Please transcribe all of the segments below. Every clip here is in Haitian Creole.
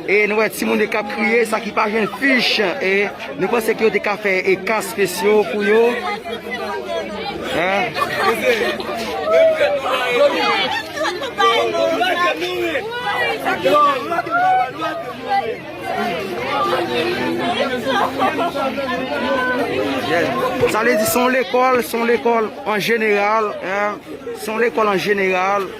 E nou wè timoun yo kap kriye, sa ki pa jwenn fich. E nou panse ke yo te ka fè e ka spesyo pou yo. Sa vle di son lekòl, son lekòl an jeneral, son lekòl an jeneral.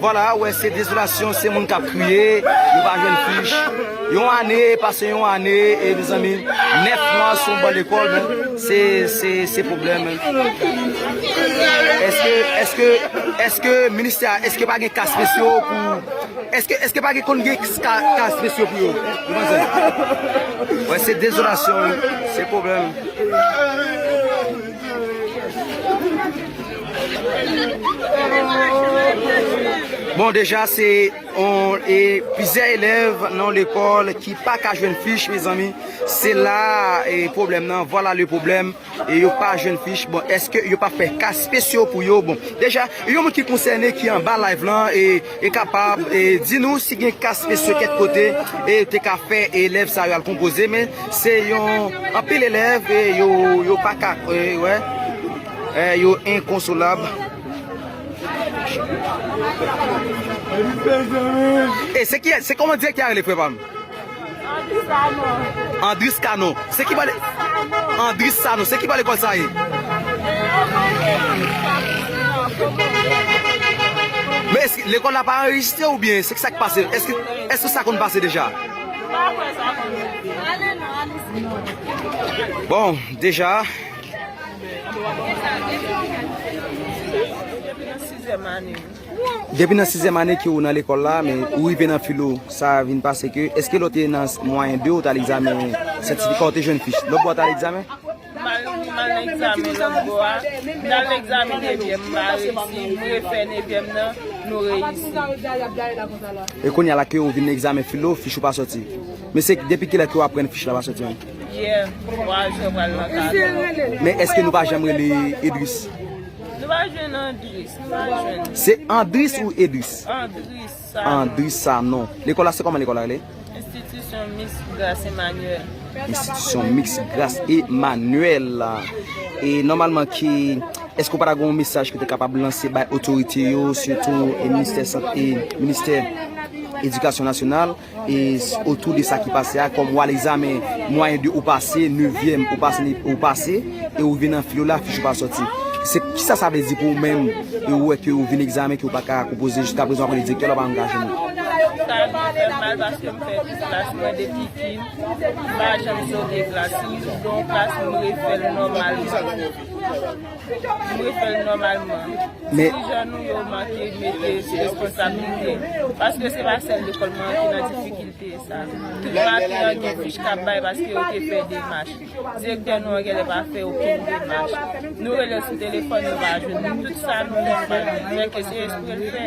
Vwala, ou wè se dezolasyon, se moun k ap kriye, yo pa jwenn fich. Yon ane pase yon ane, e mezanmi, nèf mwa sou yon ban lekòl men, se, se, se pwoblèm. Èske, èske, èske ministè a, èske pa gen ka spesyo pou, èske, èske pa gen konn gen ka, ka spesyo pou yo? Nou pa jwenn. Ou wè se dezolasyon, se pwoblèm. Bon deja se on e plizyè elèv nan lekòl ki pa ka jwenn fich mezanmi se la e pwoblèm nan vwala le pwoblèm e yo pa jwenn fich bon eske yo pa fè ka spesyo pou yo bon deja yon moun ki konsène ki anba live lan e e kapab e di nou si gen ka spesyo kèk kote e te ka fè elèv sa yo al konpoze men se yon anpil elèv e yo yo pa ka e wè. Eh yo inconsolab. E se ki se koman direktè a rele frè pam? Andris Kano. Andris Kano. Se ki pale Andris Kano. Se ki pale kòl sa ye? Men eske lekòl la pa anrejistre ou byen se ki sa ki pase? Eske eske sa konn pase deja? Bon deja Depi nan sizyèm ane ke ou nan lekòl la, men ou rive nan filo, sa vin pase ke, eske lè ou te nan mwayen 2 ou t al egzamen sètifika ou te jwenn fich, lòt bò a t al egzamen? E kounya la ke ou vin egzamen filo, fich ou pa sòti? Men se depi kilè ke ou aprann fich la pa sòti an? Men eske nou pa janm rele Edris? Se Andris ou Edris? Andris Sanon Lekòl la se kòman lekòl la rele? Institution Mixte Grace Emmanuel Institution Mixte Grace Emmanuel E nòmalman ki Eske ou pa ta gen yon mesaj ki te kapab lanse bay otorite yo Sitou Ministè Sante Ministè Edikasyon Nasyonal otou de sa ki pase a kòm wal egzamen mwayen de ou pase nevyèm ou pase ou pase e ou vin nan fil ou la fich ou pa sòti se kisa sa vle di pou ou menm e ou wè ke ou vin egzamen ke ou pa ka konpoze jiska prezan ou pa konn direktè la ou pa konn gason an. Sa vin fèm mal paske m fè tout klas mwen depi kin m pa janm zoge klas ni m zoge yon klas m refèl nòmal. M refè l nòmalman. Ti jan nou yo manke mete responsabilite. Paske se pa sèl lekòl mwen an ki nan difikilte sa. Tout maten an gen fich k ap bay paske yo te fè demach. Direktè nou an genlè pa fè okenn demach. Nou rele l sou telefòn nou pa jwenn li. Tout sa nou fè nou pa jwenn li. Mèt ke se espre l fè.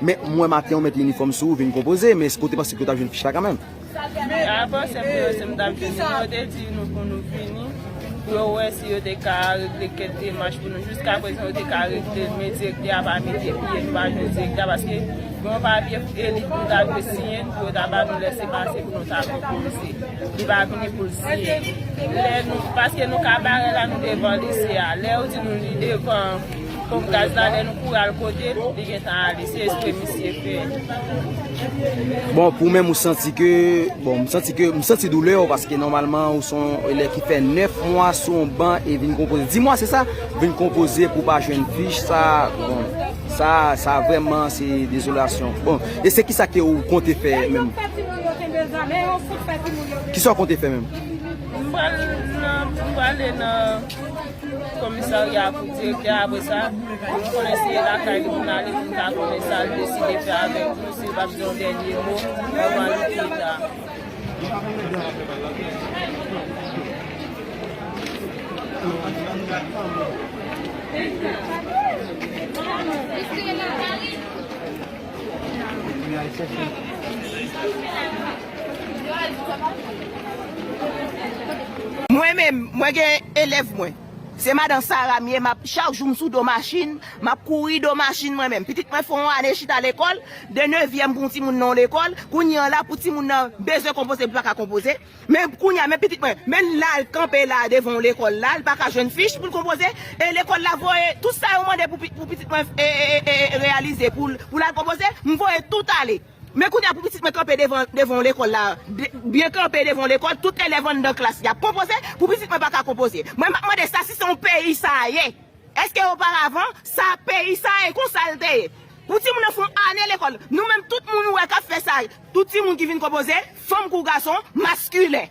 Men, m wè maten ou met minifòm sou ou vin konpoze, men eske ou te panse ke ou t ap jwenn fich la kanmenm? Mwen pa panse pou yo si m t ap jwenn li, men yo te di nou pou nou vini pou yo wè si yo te ka regle kèk demach pou nou. Jiskaprezan yo te ka regle l, men direktè a pa mete pye, nou pa jwenn direktè a paske gen yon papye pou Eli pou l ta dwe siyen l pou yo ta ba nou lese pase pou nou ta konpoze. Li pa vini pou l siyen l. Lè nou, paske nou ka bare la nou devan lise a, lè yo di nou li devan. Pof gaz la lè nou kouri al kote l li gentan ale se espre misye fè. Bon pou menm ou santi ke bon m santi ke m santi doulè ou paske nòmalman ou son elèv ki fè 9 mwa sou yon ban e vin konpoze 10 mwa se sa vin konpoze pou pa jwenn fich sa bon sa sa vreman se dezolasyon bon e se ki sa ke ou konte fè menm ki sa ou konte fè menm m pral m pral ale nan Komisarya pou direktè a apre sa, pou nou konnen si e lakay li pou n ale pou n ka konnen sa l deside fè avèk nou, si l pap di yon dènye mo anvan li kita. Mwen menm, mwen gen elèv mwen. Se madan Sara m ye, m ap, chak jou m sou do machin, m ap kouri do machin mwen menm. Pitit mwen fè yon ane chita lekòl, de nevyèm pou yon timoun nan yon lekòl, kounye an la pou timoun nan bezwen konpoze li pa ka konpoze. Men kounye a, men pitit mwen, men la l kanpe la devan yon lekòl la, li pa ka jwenn fich pou l konpoze e lekòl la voye tout sa yo mande pou pitit mwen reyalize pou l al konpoze, m voye tout ale. Men kounye a pou pitit mwen kanpe devan yon lekòl la, byen kanpe devan yon lekòl, tout elèv anndan klas li ap konpoze, pou pitit mwen pa ka konpoze. Mwen m ap mande sa si se yon peyi sa ye? Èske oparavan sa peyi sa ye? Konsa l te ye? Pou timoun nan fè yon ane lekòl, nou menm tout moun ou wè k ap fè sa, tout timoun ki vin konpoze, fanm kou gason, maskilen.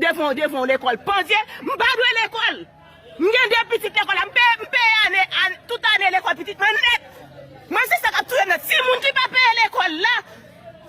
Devan devan w lekòl pandye, m pa dwe lekòl! M gen 2 pitit lekòl la, m peye ane tout ane lekòl pitit mwen nèt! Mwen se sa k ap touye m la, timoun ki pa peye lekòl la,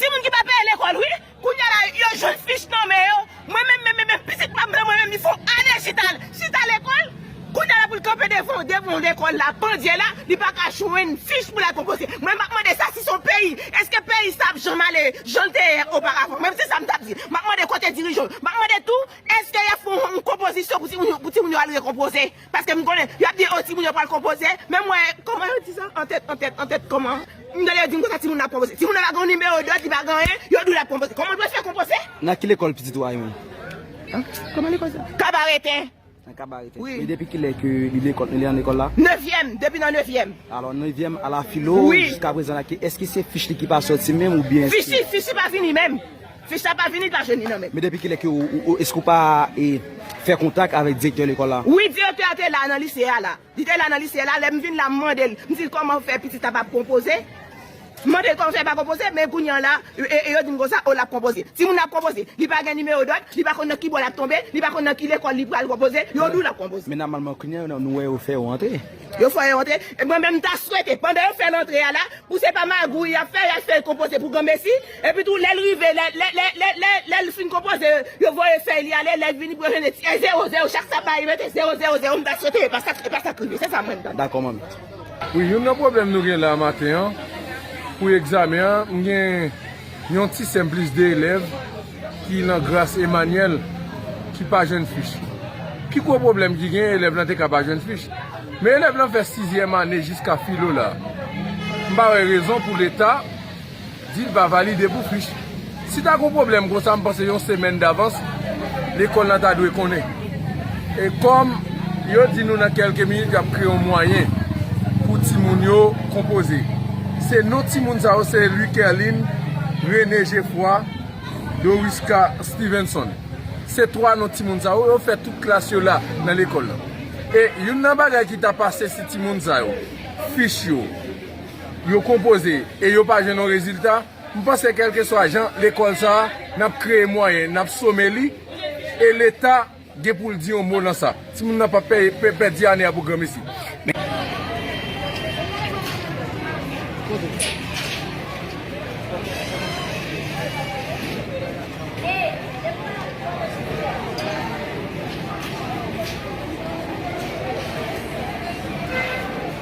timoun ki pa peye lekòl wi, kounya la yo jwenn fich nan men yo, mwen menm menm menm pitit pa m lan mwen menm li fon ane chita chita lekòl! Kounya la pou l kanpe devan devan lekòl la pandye la li pa ka jwenn fich pou l al konpoze mwen m ap mande sa si se yon peyi èske peyi sa ap janm ale jan l te ye oparavan mwen se sa m t ap di m ap mande kote dirijan yo m ap mande tou èske y ap fè yon konpozisyon pou timoun yo pou timoun yo al rekonpoze paske m konnen y ap di o timoun yo pral konpoze men mwen kòman yo di sa an tèt an tèt an tèt kòman m tande yo di m konsa timoun nan ap konpoze timoun nan pa gen yon nimewo dòd li pa gen anyen yo di w l ap konpoze kòman l pral fè konpoze. Nan ki lekòl pitit ou a yon. Kòman lekòl sa. Kabarete. Wi. E depi kilè ke li lekòl, li an lekòl la? Nevyèm, depi nan nevyèm. Alò nevyèm a la filo Wi. jiska prezan la ke èske se fich li ki pa sòti menm ou byen Fich li, fich li pa vini menm. Fich la pa vini, l pa jwenn li nan men l. Men depi kilè ke ou, èske ou pa e fè kontak avèk direktè lekòl la? Wi, direktè a te la nan lise a la. Li te la nan li syèl la, lè m vin la m mande l, m di l kòman fè pitit la pa konpoze, m mande l kòman fè li pa konpoze, men kounye an la e yo di m konsa, o l ap konpoze. Timoun nan ap konpoze, li pa gen nimewo dòd, li pa konn nan ki bò l ap tonbe, li pa konn nan ki lekòl li pral konpoze, yo di w l ap konpoze. Men nòmalman kounye an nou wè yo fè yo antre. Yo fè yo antre, mwen menm m ta swete pandan yo fè l antre a la, pou se pa magouy y ap fè, y al fè l konpoze pou granmesi, Epi tou lèl rive lè lè lè lè lè lèl fin konpoze yo voye fèy li ale lèl vini pou yo jwenn e ti e zero zero chak sa bay yo mete zero zero zero m ta swete epa sak epa sak rive se sa mwen tande. Dakò manmi. Wi youn nan pwoblèm nou gen la maten an pou egzamen an m gen yon ti sèm plis 2 elèv ki lan gras Emanyèl ki pa jwenn fich pi gwo pwoblèm ki gen elèv lan te ka pa jwenn fich men elèv lan fè sizyèm ane jiska filo la m pa wè rezon pou leta Dil pa valide pou fich. Si ta gon pwoblèm konsa m panse yon semèn davans lekòl la ta dwe konnen. E kòm yo di nou nan kèlke minit yap kreye yon mwayen pou timoun yo konpoze. Se non timoun sa yo se Louis Kerline, René Geffroy, Dorisca Stevenson. Se 3 non timoun sa yo. Yo fè tout klas yo la nan lekòl la. E youn nan bagay ki ta pase si timoun sa yo fich yo. yo konpoze e yo pa jwenn yon rezilta, m panse kèlkeswa jan lekòl sa a, n ap kreye mwayen, n ap some li e leta gen pou l di yon mo nan sa. Timoun nan pap pèdi ane a pou granmesi.